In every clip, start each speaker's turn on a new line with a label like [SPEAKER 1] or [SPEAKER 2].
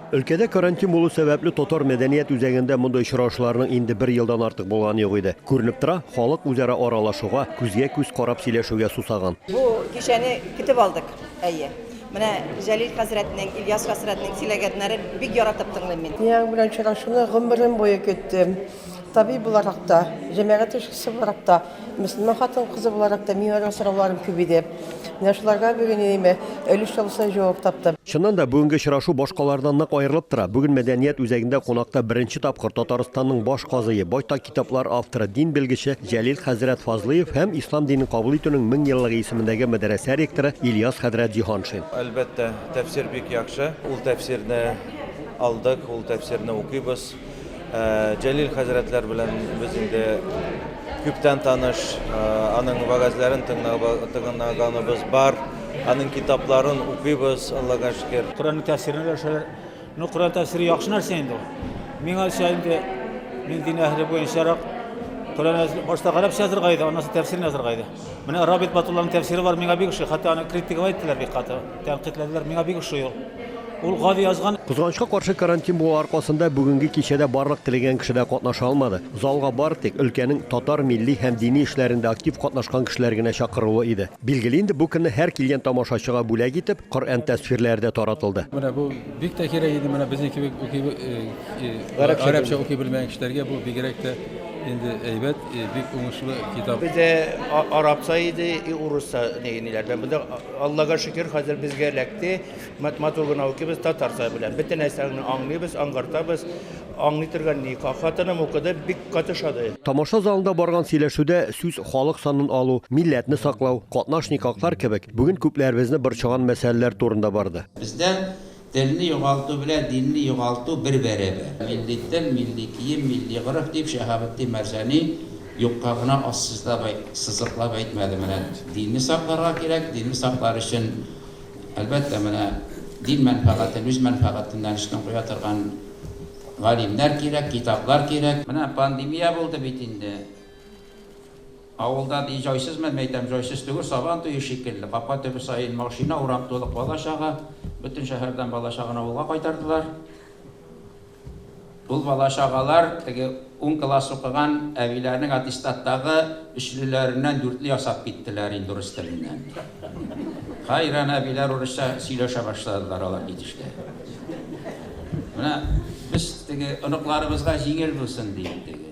[SPEAKER 1] Өлкәдә карантин булу сәбәпле татар мәдәният үзәгендә мондый очрашуларның инде бер елдан артык булганы юк иде. Күренеп тора, халык үзара аралашуга, күзгә-күз карап сөйләшүгә сусаган. Бу кичәне
[SPEAKER 2] көтеп алдык, әйе. Менә Җәлил хәзрәтнең, Ильяс хәзрәтнең сөйләгәннәрен бик яратып тыңлыйм мин. Мин аның белән очрашуны
[SPEAKER 3] гомерем буе көттем. Табиб буларак та, җәмәгать эшчесе буларак та. Мөселман хатын-кызы буларак та мин аның сорауларын күп иде. Менә шуларга бүген өеме өлеш чалушай җавап тапты. Чыннан да, бүгенге очрашу
[SPEAKER 1] башкалардан нык аерылып тора. Бүген мәдәният үзәгендә кунакта беренче тапкыр Татарстанның баш казые, байтак китаплар авторы, дин белгече Җәлил хәзрәт Фазлыев һәм Ислам динен кабул итүнең мең еллыгы исемендәге мәдрәсә ректоры Ильяс хәзрәт Җиһаншин. Әлбәттә,
[SPEAKER 4] тәфсир бик яхшы. Ул тәфсирне алдык, ул тәфсирне укыйбыз. Җәлил хәзрәтләр белән без инде күптән таныш, аның вәгазьләрен тыңлаганыбыз бар, аның китапларын укыйбыз, Аллага шөкер. Коръәннең тәфсирен өләшәләр.
[SPEAKER 5] Ну, Коръән тәфсире яхшы нәрсә инде ул. Миңалча инде мин дин әһеле буенчарак Коръән әз- башта гарәпчә язырга иде, аннан соң тәфсирен язырга иде. Менә Рабит Батулланың тәфсире бар, миңа бик ошый, хәтта аны критиковать иттеләр бик каты. Тәнкыйтьләделәр, миңа бик ошый ул. Ул гади язган. Кызганычка каршы, карантин
[SPEAKER 1] булу аркасында бүгенге кичәдә барлык теләгән кеше дә катнаша алмады. Залга бары тик өлкәнең татар милли һәм дини эшләрендә актив катнашкан кешеләр генә чакырулы иде. Билгеле инде, бу көнне һәр килгән тамашачыга бүләк итеп, Коръән тәсфирләре дә таратылды. Менә бу бик тә
[SPEAKER 6] кирәк иде, менә безнең кебек уки, гарәпчә уки белмәгән кешеләргә бу бигрәк тә инде әйбәт, бик уңышлы китап. Бездә
[SPEAKER 7] арапча иде и урысча ниләрдән, монда Аллага шөкер, хәзер безгә эләкте. Мат-матур гына укыйбыз татар теле белән. Бөтен нәрсәне аңлыйбыз, аңгартабыз. Аңлый торган ни, хатыным укыды, бик каты шады. Тамаша залында
[SPEAKER 1] барган сөйләшүдә сүз халык санын алу, милләтне саклау, катнаш никахлар кебек бүген күпләребезне борчыган мәсьәләләр турында барды. Бездә
[SPEAKER 8] Телне югалту белән динне югалту бер бәрәбәр. Милли тел, милли кием, милли гореф, дип Шәһабетдин Мәрҗани юкка гына ассызлап әй, сызыклап әйтмәде. Менә динне сакларга кирәк, динне саклар өчен, әлбәттә, менә дин мәнфәгатен үз мәнфәгатеннән өстен куя торган галимнәр кирәк, китаплар кирәк. Менә пандемия булды бит инде. Авылда ни җайсыз мән мәйтәм, җайсыз түгел, Сабан туе шикелле, капка төбе саен машина, урам тулы кала чага, бөтен шәһәрдән бала чагын авылга кайтардылар. Ул бала чагалар теге ун класс укыган әбиләрнең аттестаттагы өчлеләреннән дүртле ясап киттеләр инде урыс теленнән. Хәйран әбиләр урысча сөйләшә башладылар алар китешкә. Менә без теге оныкларыбызга җиңел булсын диим теге.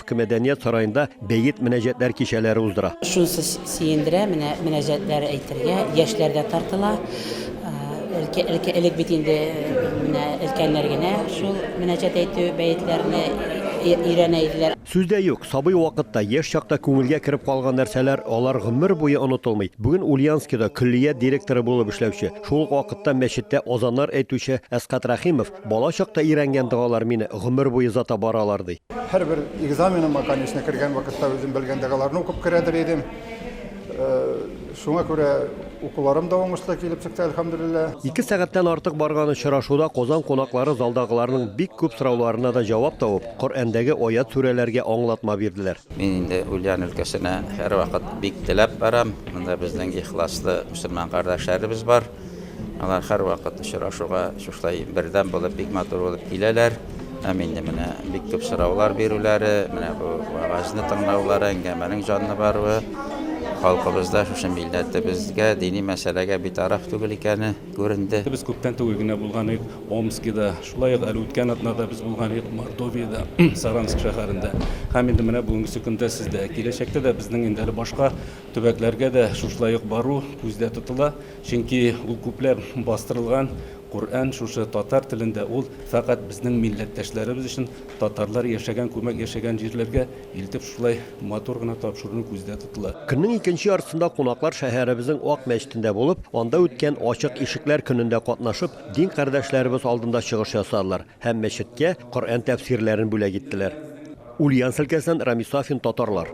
[SPEAKER 1] Төрке мәдәният сараенда бәет мөнәҗәтләр кичәләре уздыра. Шунысы сөендерә,
[SPEAKER 9] менә мөнәҗәтләр әйтергә яшьләр дә тартыла. Элке, элке, элек бит инде менә өлкәннәр генә шул мөнәҗәт әйтү бәетләрне өйрәнә иделәр. Сүз дә юк,
[SPEAKER 1] сабый вакытта, яшь чакта күңелгә кереп калган нәрсәләр, алар гомер буе онытылмый. Бүген Ульяновскида көллият директоры булып эшләүче, шул ук вакытта мәчеттә азаннар әйтүче Әсгать Рәхимов Бала чакта өйрәнгән догалар мине гомер буе озата баралар, ди. Һәрбер
[SPEAKER 10] экзаменыма, конечно, кергән вакытта үзем белгән догаларны укып керәдер идем. Шуңа күрә укуларым да уңышлы килеп чыкты, әлхәмдүлилләһ. Ике сәгатьтән артык
[SPEAKER 1] барган очрашуда Казан кунаклары залдагыларның бик күп сорауларына да җавап табып, Коръәндәге аять-сүрәләргә аңлатма бирделәр. Мин инде Ульян
[SPEAKER 8] өлкәсенә һәрвакыт бик теләп барам. Монда безнең ихласлы мөселман кардәшләребез бар. Алар һәрвакыт очрашуга шушылай бердәм булып, бик матур булып киләләр. Һәм инде менә бик күп сораулар бирүләре, менә бу вәгазьне тыңлаулары, әңгәмәнең җанлы баруы, халкыбызда шушы милләтебезгә, дини мәсьәләгә битараф түгел икәне күренде. Без күптән түгел генә
[SPEAKER 6] булган идек Омскида, шулай ук әле үткән атнада без булган идек Мордовиядә, Саранск шәһәрендә. Һәм инде менә бүгенгесе көндә сездә. Киләчәктә дә безнең инде әле башка Төбәкләргә дә шушылай ук бару күздә тотыла, чөнки ул күпләп бастырылган Коръән шушы татар телендә, ул фәкать безнең милләттәшләребез өчен, татарлар яшәгән, күмәк яшәгән җирләргә илтеп шушылай матур гына тапшырыну күздә тотыла. Көннең икенче яртысында
[SPEAKER 1] кунаклар шәһәребезнең Ак мәчетендә булып, анда үткән Ачык ишекләр көнендә катнашып, дин кардәшләребез алдында чыгыш ясадылар һәм мәчеткә Коръән тәфсирләрен бүләк иттеләр. Ульяновск өлкәсеннән Рамис Сафин, Татарлар.